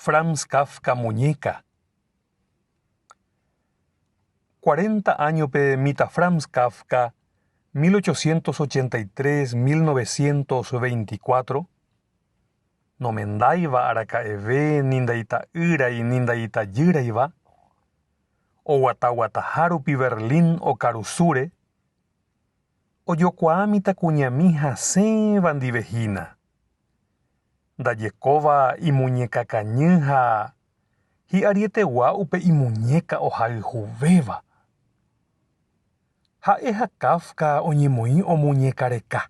Franz Kafka Muñeca. Cuarenta áñope mitã Franz Kafka, 1883-1924, nomendáiva araka'eve ni ndaita'ýrai ni ndaitajýraiva, oguataguataha rupi Berlín okarusúre, ojokuaa mitãkuñami hasẽva ndive hína. Ndajekóva imuñeka kañy ha hi'arietegua upe imuñeka ohayhuvéva. Ha'e ha Kafka oñemoĩ omuñeka reka.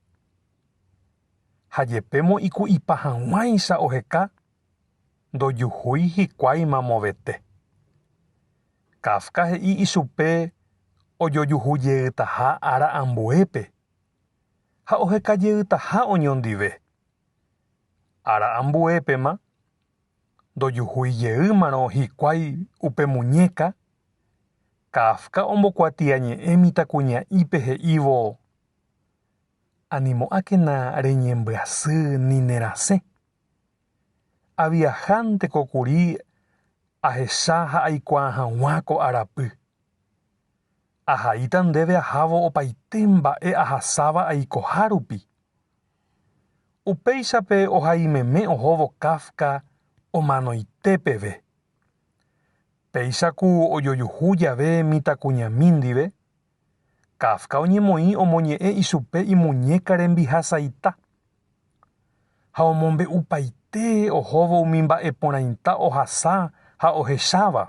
Ha jepémo iku'ipa hag̃uáicha oheka ndojuhúi hikuái mamovete. Kafka he'i ichupe ojojuhu jeytaha ára ambuépe ha oheka jeytaha oñondive. Ára ambuépema, ndojuhúi jeýmarõ hikuái upe muñéka, Kafka ombokuatiañe'ẽ mitãkuña'ípe he'ívo, Animo'ãkena reñembyasy ni nerasẽ. Aviahánteko kuri ahecha ha aikuaa hag̃ua ko arapy. Ahaíta ndéve ahávo opaite mba'e ahasáva aikoha rupi. Upéichape ohaimeme ohóvo Kafka omanoite peve. Péicha ku ojojuhu jave mitãkuñami ndive, Kafka oñemoĩ omoñe'ẽ ichupe imuñéka rembihasaita ha omombe'upaite ohóvo umi mba'e porãita ohasa ha ohecháva.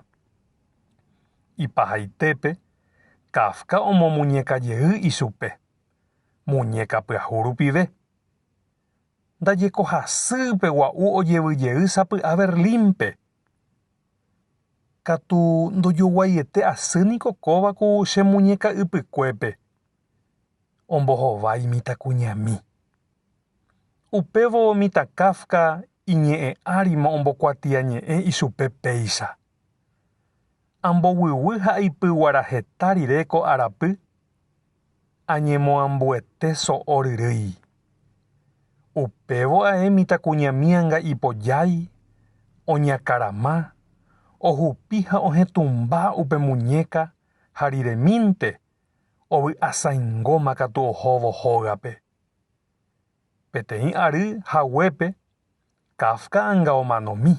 Ipahaitépe, Kafka omomuñeka jey ichupe, muñéka pyahu rupive. Ndajekohasýipe gua'u ojevy jey sapy'a Berlínpe. Katu ndojoguaiete asy niko kóva ku che muñeka ypykuépe ombohova imitãkuñami. Upévo mitã Kafka iñe'ẽ árimo ombokuatiañe'ẽ ichupe péicha. Amboguigui ha aipyguara heta rire ko arapy Añemoambuete so'o ryrýi. Upévo ae mitãkuñami anga'ipojái, oñakarama, ohupi ha ohetũmba upe muñéka ha riremínte ovy'asãingóma katu ohóvo hógape. Peteĩ ary haguépe Kafka anga omanomi.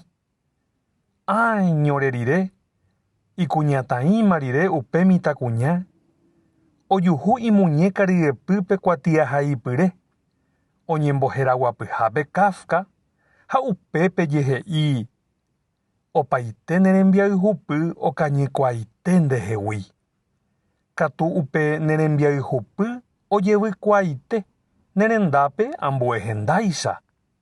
Áeñore rire, ikuñataĩma rire upe mitãkuña, ojuhu imuñéka ryepýpe kuatiahaipyre, oñemboheraguapyhápe Kafka ha upépe jehe'i, Opaite ne rembiayhupy okañykuaaite ndehegui. Katu upe ne rembiayhupy ojevykuaaite ne rendápe ambue hendáicha.